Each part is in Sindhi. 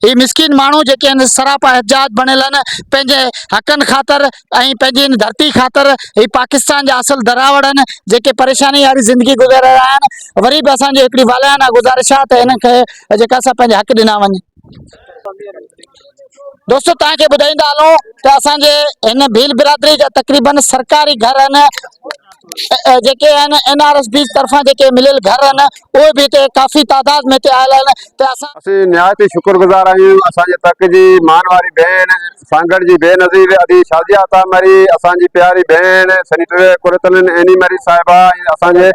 هي مسڪين ماڻهو جيڪي هن سراپا حجاج بڻيل آهن پنهنجي حقن خاطر ۽ پنهنجي هن ڌرتي خاطر هي پاڪستان جا اصل دراوڙ آهن جيڪي پريشاني واري زندگي گذاري رهيا آهن وري به اسان جي هڪڙي والهانه گذارش آهي ته هنن کي جيڪا سا پنهنجا حق ڏنا وڃن دوستو توهان کي ٻڌائيندا هلون ته اسان جي هن ڀيل برادري جا تقريبن سرڪاري گهر آهن جيڪي آهن اين آر ايس بيز طرفان جيڪي مليل گهر آهن اهي به هتي ڪافي تعداد ۾ هتي آيل آهن ته اسان اسين نهايت ئي شڪر گذار آهيون اسان جي تڪ جي مان واري ڀيڻ سانگهڙ جي بي نظير ادي شازيه عطا مري اسان جي پياري ڀيڻ سينيٽر قرتالعين عيني مري صاحبه ۽ اسان جي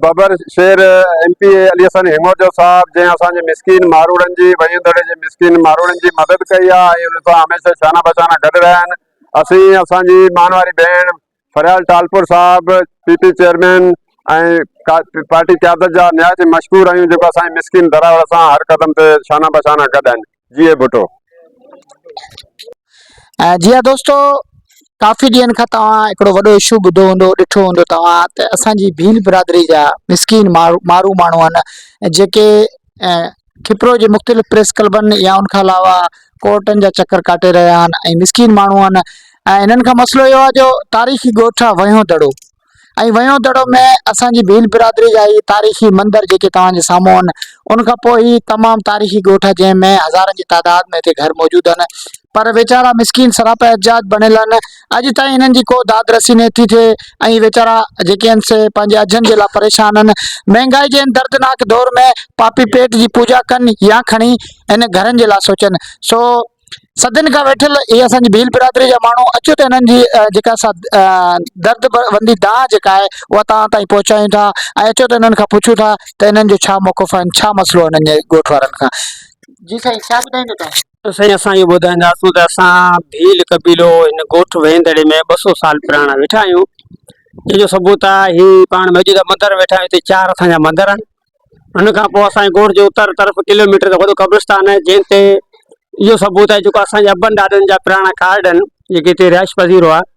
ببر شير M P A Ali Hassan هيمورجو صاحب جنهن اسان جي مسڪين ماروڙن جي ويهين دڙي جي مسڪين ماروڙن جي مدد ڪئي آهي ۽ انهن سان هميشه شانه بشانه گڏ رهيا آهن اسين اسان جي مان واري ڀيڻ فريال ٽالپر صاحب پي پي چيئرمين ۽ پارٽي قيادت جا نهايت ئي مشڪور آهيون جيڪو اسان جي مسڪين دراوڙ سان هر قدم تي شانه به شانه گڏ آهن جيئي ڀٽو. جي ها دوستو ڪافي ڏينهن کان توهان هڪڙو وڏو اشو ٻڌو هوندو ڏٺو هوندو توهان ته اسان جي ڀيل برادري جا مسڪين مارو ماڻهو آهن جيڪي کپرو جي مختلف پريس ڪلبن يا ان کان علاوه ڪورٽن جا چڪر ڪاٽي رهيا آهن ۽ مسڪين ماڻهو آهن ۽ انهن کان مسئلو اهو آهي جو تاريخي ڳوٺ آهي وهيون دڙو ۽ وهيون دڙو ۾ اسانجي ڀيل برادري جا هي تاريخي مندر جيڪي توهان جي سامهون آهن ان کان پوء هي تمام تاريخي ڳوٺ آهي جنهن ۾ هزارن جي تعداد ۾ هتي گهر موجود آهن پر ويچارا مسڪين سراپا احتجاج بڻيل آهن اڄ تائين انهن جي ڪو داد رسي نه ٿي ٿئي ۽ ويچارا جيڪي آهن سي پنهنجي اجهن جي لاء پريشان آهن. مهنگائي جي ان دردناڪ دور ۾ پاپي پيٽ جي پوڄا ڪن يا کڻي ان گهرن جي لاء سوچن. سو صدين کان ويٺل اهي اسان جي ڀيل برادري جا ماڻهو اچو ته انهن جي جيڪا سا درد وندي دانهن جيڪا آهي اها توهان تائين پهچايون ٿا ۽ اچو ته انهن کان پڇون ٿا ته انهن جو ڇا موقف آهن، ڇا مسئلو آهي انهن جي ڳوٺ وارن کان. جي سائين ڇا ٻڌائيندو تون؟ سائين اسان اهو ٻڌائينداسون ته اسان ڀيل قبيلو هن ڳوٺ وهيندڙي ۾ ٻه سو سال پراڻا ويٺا آهيون ان جو ثبوت آهي هي پاڻ موجوده مندر ويٺا آهيون هتي چار اسان جا مندر آهن ان کان پوء اسان ڳوٺ جو اتر طرف ڪلوميٽر جو وڏو قبرستان آهي جنهن تي اهو ثبوت آهي جيڪو اسان جي ابن ڏاڏن جا پراڻا ڪارڊ آهن جيڪي هتي رهائش پذير هئا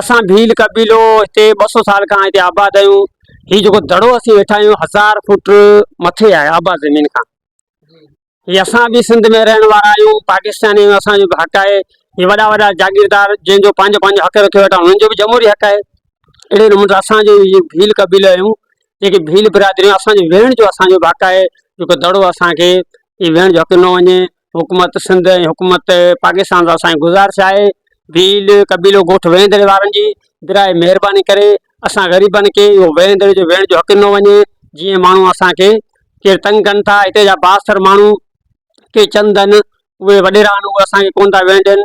اسان ڀيل قبيلو هتي ٻه سؤ سال کان هتي آباد آهيون هي جيڪو دڙو اسين ويٺا آهيون هزار فوٽ مٿي آهي آباد زمين کان هي اسان به سنڌ ۾ رهڻ وارا آهيون پاڪستاني آهيون اسانجو به حق آهي هي وڏا وڏا جاگيردار جن جو پنهنجو پنهنجو حق رکيو ويٺا هنن جو به جمهوري حق آهي اهڙي نموني اسانجو هي ڀيل قبيلو آهيون جيڪي ڀيل برادريون اسانجو ويهڻ جو اسانجو به حق آهي جيڪو دڙو اسانکي هي ويهڻ جو حق ڏنو وڃي حڪومت سنڌ ۽ حڪومت پاڪستان سان اسانجي گذارش آهي ڀيل قبيلو ڳوٺ ويهين دري وارن جي برائي مهرباني ڪري اسان غريبن کي اهو ويهين دري جو ويهڻ جو حق ڏنو وڃي جيئن ماڻهو اسانکي ڪير تنگ ڪن ٿا هتي جا بااثر ماڻهو ڪي چند آهن اهي وڏيرا آهن اهي اسانکي ڪونه ٿا ويهڻ ڏين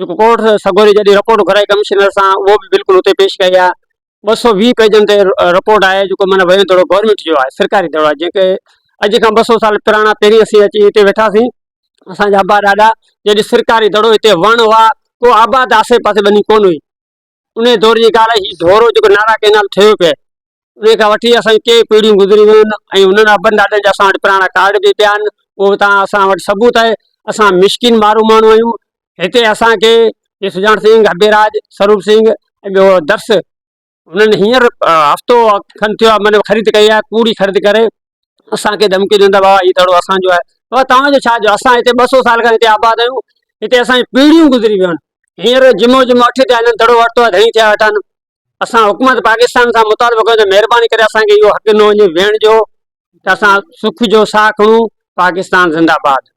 جيڪو ڪورٽ سڳوري جڏهن رپورٽ گهرائي ڪمشنر سان اهو به بلڪل اتي پيش ڪئي آهي ٻه سؤ ويهه پيجن تي رپورٽ آهي جيڪو معنيٰ ويو دڙو گورنمينٽ جو آهي سرڪاري دڙو آهي جيڪي اڄ کان ٻه سؤ سال پراڻا پهرين اسين اچي هتي ويٺاسين اسان جا ابا ڏاڏا جڏهن سرڪاري دڙو هتي وڻ هئا ڪو آباد آسي پاسي ٻني ڪون هئي ان دور جي ڳالهه آهي، هي ڍورو جيڪو نارا ڪئنال ٺهيو پيو آهي، ان کان وٺي اسان جون ڪيئي پيڙهيون گذري ويون آهن ۽ انهن ابن ڏاڏن جا اسان وٽ پراڻا ڪارڊ به پيا آهن، اهو به توهان اسان وٽ ثبوت آهي، اسان مسڪين مارو ماڻهو آهيون، هتي اسان کي جي سجاڻ سنگهه، اڀيراج، سروپ سنگهه ۽ ٻيو درس هنن هينئر هفتو کن ٿيو آهي من خريد ڪئي آهي، پوري خريد ڪري اسان کي ڌمڪيون ڏيندا بابا هي دڙو اسان جو آهي بابا توهان جو ڇا جو آهي اسان هتي ٻه سو سال کان آباد آهيون هتي اسان جون پيڙهيون گذري ويون آهن هينئر جمعو جمعو اٺ ٿيا هلن دڙو ورتو آهي ڌڻي ٿيا ويٺا آهن اسان حڪومت پاڪستان سان مطالبو ڪيو ته مهرباني ڪري اسان کي اهو حق ڏنو وڃي ويهڻ جو ته اسان سک جو ساهه کڻون پاڪستان زنده آباد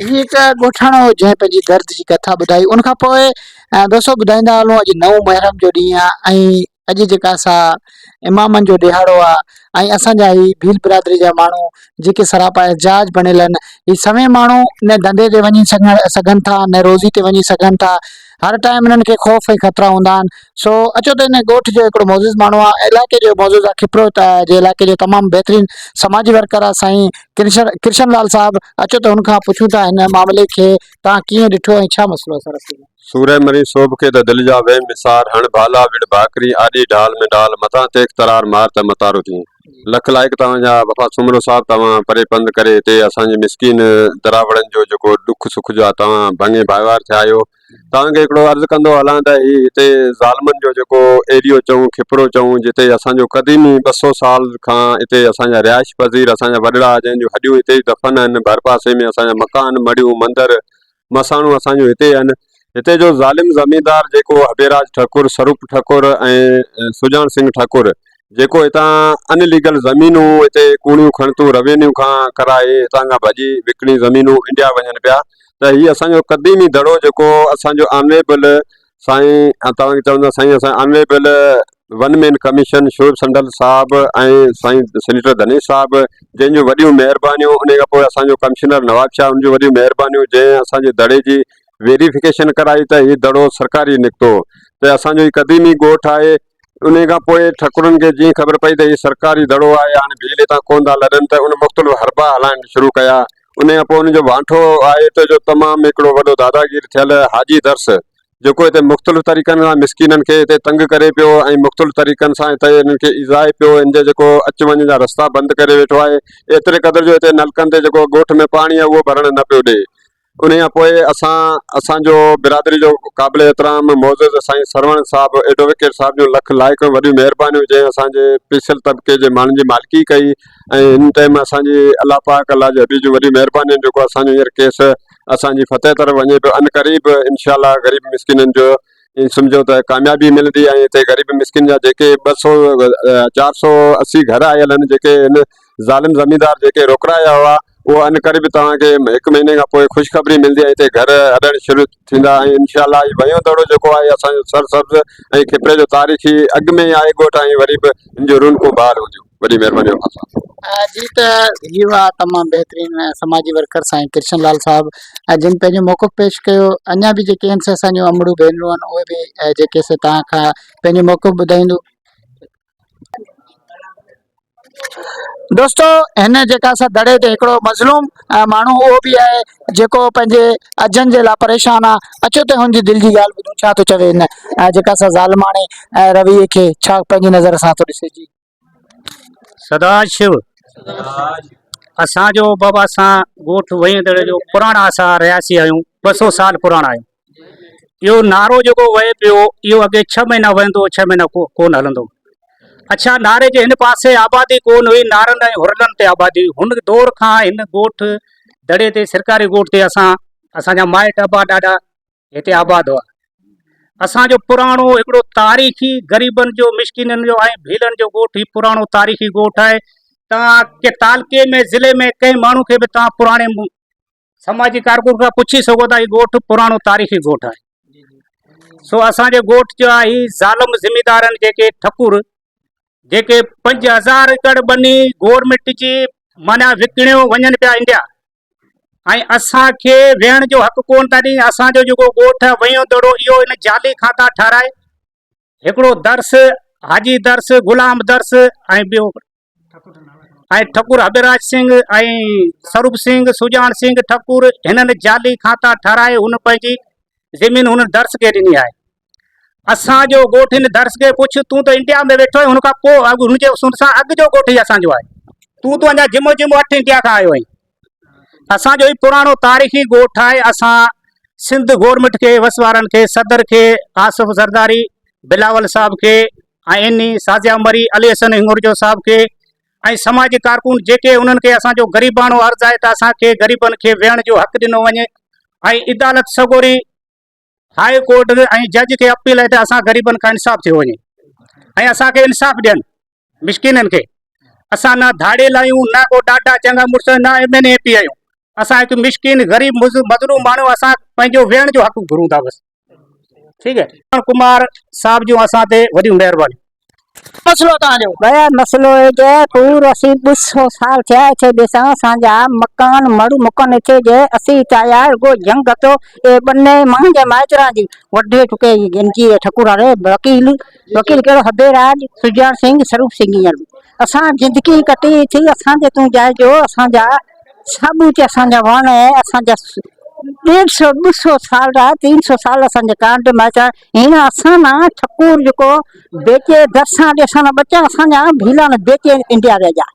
هي هڪ ڳوٺاڻو هو جنهن پنهنجي درد جي ڪٿا ٻڌائي ان کان پوء دوستو ٻڌائيندا هلون اڄ نو محرم جو ڏينهن آهي ۽ اڄ جيڪا سا امامن جو ڏيهاڙو آ ۽ اسان جا هي ڀيل برادري جا ماڻهو جيڪي سراپا احجاج بڻيل ان هي سوين ماڻهو نه ڌنڌي تي وڃي سگهن ٿا نه روزي تي وڃي سگهن ٿا هر ٽائيم انهن کي خوف ۽ خطرا هوندا آهن سو اچو ته ان ڳوٺ جو هڪڙو معزز ماڻهو آ علائقي جو معزز آ کپرو جي علائقي جو تمام بهترين سماجي ورڪر آ سائين ڪرشن ڪرشن لال صاحب اچو ته هن کان پڇون ٿا هن معاملي کي تان ڪيئن ڏٺو ۽ ڇا مسئلو سر سورهيه مرين سوڀ کي ته دل جا ويم وسار، هڻ ڀالا وڙهه ڀاڪرين، آڏي ڍال ۾ ڍال، متان تيخ ترار مار ته متارو ٿين. لک لائق توهان جا وفا سومرو صاحب توهان پري پنڌ ڪري هتي اسان جي مسڪين دراوڙن جو جيڪو ڏک سک جو آ توهان ڀڱي ڀائيوار ٿيا آهيو توهان کي هڪڙو عرض ڪندو هلان ته هي هتي ظالمن جو جيڪو ايريو چئون کپرو چئون جتي اسان جو قديمي ٻه سو سال کان هتي اسان جا رهائش پذير اسان جا وڏڙا جنهن جون هڏيون هتي ئي دفن آهن ڀر پاسي ۾ اسان جا مڪان مڙهيون مندر مساڻو اسان جون هتي آهن. هتي جو ظالم زميندار جيڪو هبيراج ٺڪر، سروپ ٺڪر ۽ سجاڻ سنگهه ٺڪر جيڪو هتان ان ليگل زمينون هتي ڪوڻيون کڻتون روينيو کان ڪرائي هتان کان ڀڄي وڪڻي زمينون انڊيا وڃن پيا ته هي اسان جو قديمي دڙو جيڪو اسان جو آنريبل سائين توهان کي چوندا سائين اسان honourable one man commission Shoaib سنڊل صاحب ۽ سائين سينيٽر دنيش صاحب جن جون وڏيون مهربانيون ان کان پوء اسانجو ڪمشنر نواب شاهه ان جون وڏيون مهربانيون جنهن اسانجي دڙي جي ويريفڪيشن ڪرائي ته هي دڙو سرڪاري نڪتو ته اسانجو هي قديمي ڳوٺ آهي انهيء کان پوء ٺڪرن کي جيئن خبر پئي ته هي سرڪاري دڙو آهي، هاڻي ڀيل هتان ڪونه ٿا لڏن ته ان مختلف حربا هلائڻ شروع ڪيا. انهيء کان پوء ان جو وانٺو آهي ته جو تمام هڪڙو وڏو داداگير ٿيل حاجي درس، جيڪو هتي مختلف طريقن سان مسڪينن کي هتي تنگ ڪري پيو ۽ مختلف طريقن سان هتي انهن کي ايذائي پيو، هن جي جيڪو اچ وڃ جا رستا بند ڪري ويٺو آهي، ايتري قدر جو هتي نلڪن تي جيڪو ڳوٺ ۾ پاڻي آهي، اهو ڀرڻ نه پيو ڏئي. انهيء کان پوء اسان اسان جو برادري جو قابل احترام معزز سائين سروڻ صاحب ايڊووڪيٽ صاحب جون لک لائق ۽ وڏيون مهربانيون جنهن اسان جي پيسيل طبقي جي ماڻهن جي مالڪي ڪئي ۽ ان ٽئيم اسان جي الله پاڪ الله جي حبيب جون وڏيون مهربانيون آهن جيڪو اسان جو هينئر ڪيس اسان جي فتح طرف وڃي پيو ان قريب انشاء الله غريب مسڪينن جو ائين سمجهو ته ڪاميابي ملندي ۽ هتي غريب مسڪين جا جيڪي ٻه سؤ چار سؤ اسي گهر آيل آهن جيڪي هن ظالم زميندار جيڪي روڪرايا هئا اهو ان قريب توهان کي هڪ مهيني کان پوء خوشخبري ملندي ۽ هتي گهر اڏڻ شروع ٿيندا ۽ انشاء الله هي ويون دڙو جيڪو آهي اسان جو سرسبز ۽ کپري جو تاريخي اڳ ۾ ئي آهي ڳوٺ ۽ وري به هن جون رونقون بحال هونديون. وڏي مهرباني اوهان سان. جي ته هي هئا تمام بهترين سماجي ورڪر سائين ڪرشن لال صاحب جن پنهنجو موقف پيش ڪيو اڃا به جيڪي هن سي اسان جون امڙون ڀينرون آهن اهي به جيڪي سي تان کان پنهنجو موقف ٻڌائيندو دوستو هن جيڪا سا دڙي تي هڪڙو مظلوم ماڻهو اهو به آهي جيڪو پنهنجي اجن جي لاء پريشان آ اچو ته هن جي دل جي ڳالهه ٻڌون ڇا ٿو چوي هن جيڪا سا ظالماڻي رويي کي ڇا پنهنجي نظر سان ٿو ڏسي جي سدا شو اسان جو بابا سان ڳوٺ ويندڙ جو پراڻا اسا رهياسي آهيون ٻه سو سال پراڻا آهيون اهو نعرو جيڪو وهي پيو اهو اڳي ڇهه مهينا وهندو ڇهه مهينا کو ڪونه هلندو اڇا نعري جي هن پاسي آبادي ڪونه هئي نعرن ۽ هرلن تي آبادي هن دور کان هن ڳوٺ دڙي تي سرڪاري ڳوٺ تي اسان اسان جا مائٽ ابا ڏاڏا هتي آباد هئا. اسان جو پراڻو هڪڙو تاريخي غريبن جو مسڪينن جو ۽ ڀيلن جو ڳوٺ هي پراڻو تاريخي ڳوٺ آهي توهان ڪي تعلقي ۾ ضلعي ۾ ڪنهن ماڻهو کي به توهان پراڻي سماجي ڪارڪن کان پڇي سگهو ٿا هي ڳوٺ پراڻو تاريخي ڳوٺ آهي سو اسان جو ڳوٺ جو آهي هي ظالم ذميدارن جيڪي ٺڪر جيڪي پنج هزار ايڪڙ ٻني گورنمنٽ جي معنيٰ وڪڻيو وڃن پيا انڊيا ۽ اسان کي ويهڻ جو حق ڪونه ٿا ڏين اسان جو جيڪو ڳوٺ آهي ويهون دڙو اهو ان جعلي کاتا ٺهرائي هڪڙو درس حاجي درس غلام درس ۽ ٻيو ۽ ٺڪور حبيراج سنگھ ۽ سروپ سنگھ سجاڻ سنگھ ٺڪور هنن جعلي کاتا ٺهرائي هن پنهنجي زمين هن درس کي ڏني آهي اسان جو ڳوٺ هن درس کي پڇ تون ته انڊيا ۾ ويٺو آهين هن کان پوء اڳ هن جي هن سان اڳ جو ڳوٺ ئي اسان جو آهي تون ته اڃا جمو جمو اٺ انڊيا کان آيو آهين اسان جو هي پراڻو تاريخي ڳوٺ آهي اسان سنڌ گورنمنٽ کي وس وارن کي صدر کي آصف زرداري بلاول صاحب کي ۽ اين سازيا مري علي حسن هنگورجو صاحب کي ۽ سماجي ڪارڪن جيڪي انهن کي اسان جو غريباڻو عرض آهي ته اسان کي غريبن کي ويهڻ جو حق ڏنو وڃي ۽ عدالت سڳوري هاء ڪورٽ ۽ جج کي اپيل آهي ته اسان غريبن کان انصاف ٿيو وڃي ۽ اسان کي انصاف ڏين مسڪينن کي اسان نه ڌاڙيل آهيون نه ڪو ڏاڍا چڱا مڙس نه ايم اين اي پي آهيون اسان هڪ مسڪين غريب مظلوم ماڻهو اسان پنهنجو ويهڻ جو حق گهرون ٿا بس ٺيڪ آهي ڪمار صاحب جون اسان تي وڏيون مهربانيون مسئلو تان جو. بيا مسئلو اي جي پور اسين ڏس سو سال ٿيا اٿي ڏسان اسان جا مڪان مڙ مڪن اٿي جي اسين چايا رڳو جنگ اٿو اي ٻني مان جي مائتران جي وڍي ٽڪي جي گنجي اي ٺڪر اري وڪيل وڪيل ڪهڙو هبي راج سجاڻ سنگ سروپ سنگ هينئر به اسان زندگي ڪٽي اٿي اسان جي تون جائي جو اسان جا ثابوت اسان جا وڻ اي اسان جا ڏيڍ سو ٻه سو سال را تين سو سال اسان جي ڪانڊ مائتران هن اسان نا ٺڪور جيڪو بيچي درسان ڏي اسان نا ٻچا اسان جا ڀيلا نا بيچي انڊيا ويا جا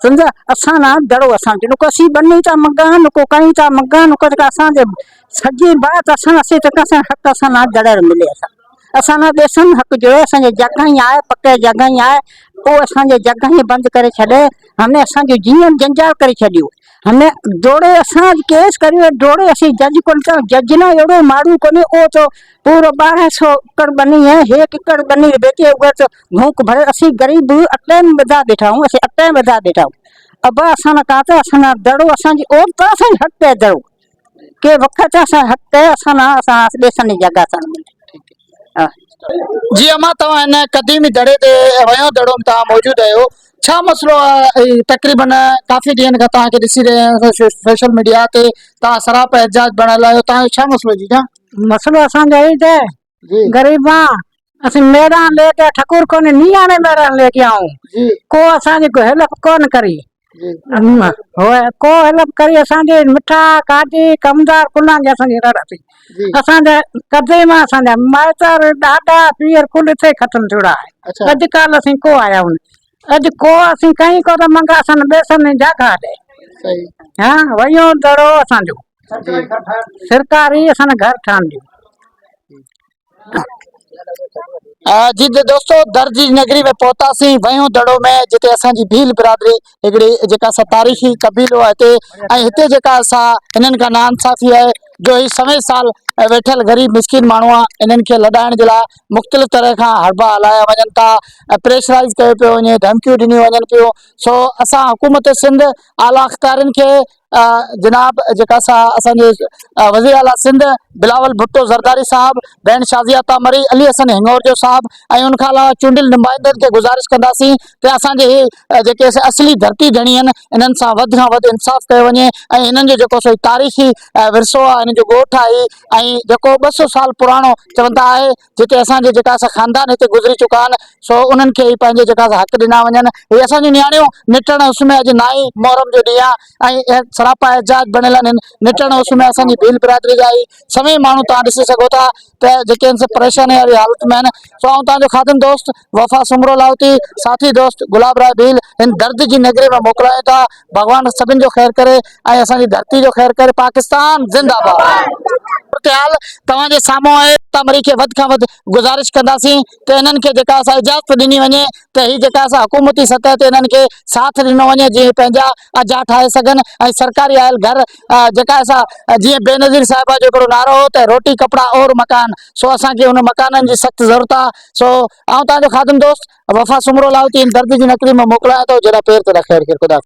سمجھا اسان نا دڙو اسان جو نڪو اسين بني تا مگا نڪو ڪئين تا مگا نڪو جيڪا اسان جي سڄي بات اسان اسين جيڪا اسان حق اسان نا دڙر ملي اسان اسان نا ڏيسن حق جو اسان جي جڳھ ائين آهي پڪي جڳھ ائين آهي پوء اسان جي جڳھ ائين بند ڪري ڇڏي همي اسان جو جيون جنجال ڪري ڇڏيو. ھن جوڙي اسان ڪيس ڪريو جوڙي اسين جج ڪون ٿا جج نه اھڙو ماڙو ڪونھي او چو پورو ٻارهن سئو اڪڙ ٻني ھي ھيڪ اڪڙ ٻني ويچي اھا چو ڀونڪ ڀري اسين غريب اٽين ٻڌا ٻيٺا آھون اسين اٽين ٻڌا ٻيٺا آھون ابا اسان نا ڪا تي اسان نا دڙو اسان جي او ترسين ھٽ ڪي دڙو. ڪي وکر چا سا حق ڪي اسان نا اسان آس ڏيسن ني جگا سان ملي ها. جي امان توهان هن قديمي دڙي تي ويون دڙو ۾ توهان موجود آهيو ڇا مسئلو آهي تقريبا ڪافي ڏينهن کان توهان کي ڏسي رهيا آهيون سوشل ميڊيا تي توهان سراپا احتجاج بڻيل آهيو توهان جو ڇا مسئلو جي جان. مسئلو اسان جو اهي ته غريبان اسين ميران لي گيا ٺڪور ڪونهي نياڻي ميران لي گيا هون ڪو اسان جي هيلپ ڪونه ڪري ڪو هيلپ ڪري اسان جي مٺا ڪاٽي ڪمدار ڪلان جي اسان جي رڙ ٿي اسان جا قديم اسان جا مائتر ڏاڏا پيئر ڪل اتي ختم ٿيوڙا آهي اڄ ڪالهه اسين ڪو آيا هون اڄ ڪو اسين ڪئين ڪو ته منگا سن بيسن ۽ جاگا ڏي ها ويو دڙو اسان جو سرڪاري اسان گهر ٺاهن ڏي جي دوستو درجي نگري ۾ پهتاسين ويون دڙو ۾ جتي اسان جي ڀيل برادري هڪڙي جيڪا سا تاريخي قبيلو آهي هتي ۽ هتي جيڪا سا انهن کان ناانصافي آهي جو هي سوين سال ويٺل غريب مسڪين ماڻهو آهي انهن کي لڏائڻ جي لاء مختلف طرح کان حربا هلايا وڃن ٿا ۽ پريشرائيز ڪيو پيو وڃي ڌمڪيون ڏنيون وڃن پيون سو اسان حڪومت سنڌ اعليٰ اختيارين کي جناب جيڪا سا اسان جي وزير اعليٰ سنڌ بلاول ڀٽو زرداري صاحب بين شازيا تامري علي حسن هنگورجو صاحب ۽ ان کان علاوه چونڊيل نمائندن کي گزارش ڪنداسين ته اسان جي جيڪي اسين اصلي ڌرتي ڌڻي آهن انهن سان وڌ کان وڌ انصاف ڪيو وڃي ۽ انهن جو جيڪو سو تاريخي ورثو آهي انهن جو ڳوٺ آهي ۽ جيڪو ٻه سو سال پراڻو چون ٿا آهي جتي اسان جي جيڪا سا خاندان هتي گذري چڪا آهن سو انهن کي پنهنجي جيڪا سا حق ڏنا وڃن هي اسان جون نياڻيون نٽڻ اس ۾ اڄ نائين محرم جو ڏينهن آهي ۽ سراپا احتجاج بڻيل آهن نٽڻ اس ۾ اسان جي ڀيل برادري جا هي سوين ماڻهو توهان ڏسي سگهو ٿا ته جيڪي ان سان پريشاني واري حالت ۾ آهن سو آئون توهان جو خادم دوست وفا سومرو لاهوتي، ساٿي دوست گلاب راء ڀيل هن درد جي نگري ۾ موڪلايون ٿا، ڀڳوان سڀن جو خير ڪري ۽ اسان جي ڌرتي جو خير ڪري، پاڪستان زنده باد. صورتحال توهان جي سامهون آهي ته مري کي وڌ کان وڌ گذارش ڪنداسين ته انهن کي جيڪا اسان اجازت ڏني وڃي ته هي جيڪا اسان حڪومتي سطح تي انهن کي ساٿ ڏنو وڃي جيئن هي پنهنجا اجها ٺاهي سگهن ۽ سرڪاري آيل گهر جيڪا اسان جيئن بينظير صاحبه جو هڪڙو نعرو هو ته روٽي ڪپڙا اور مڪان سو اسان کي ان مڪانن جي سخت ضرورت آهي سو آئون توهان جو خادم دوست وفا سومرو لاهوتي هن درد جي نقلي مان موڪليان ٿو جيڏانهن پير تيڏانهن خير خير خدا حافظ.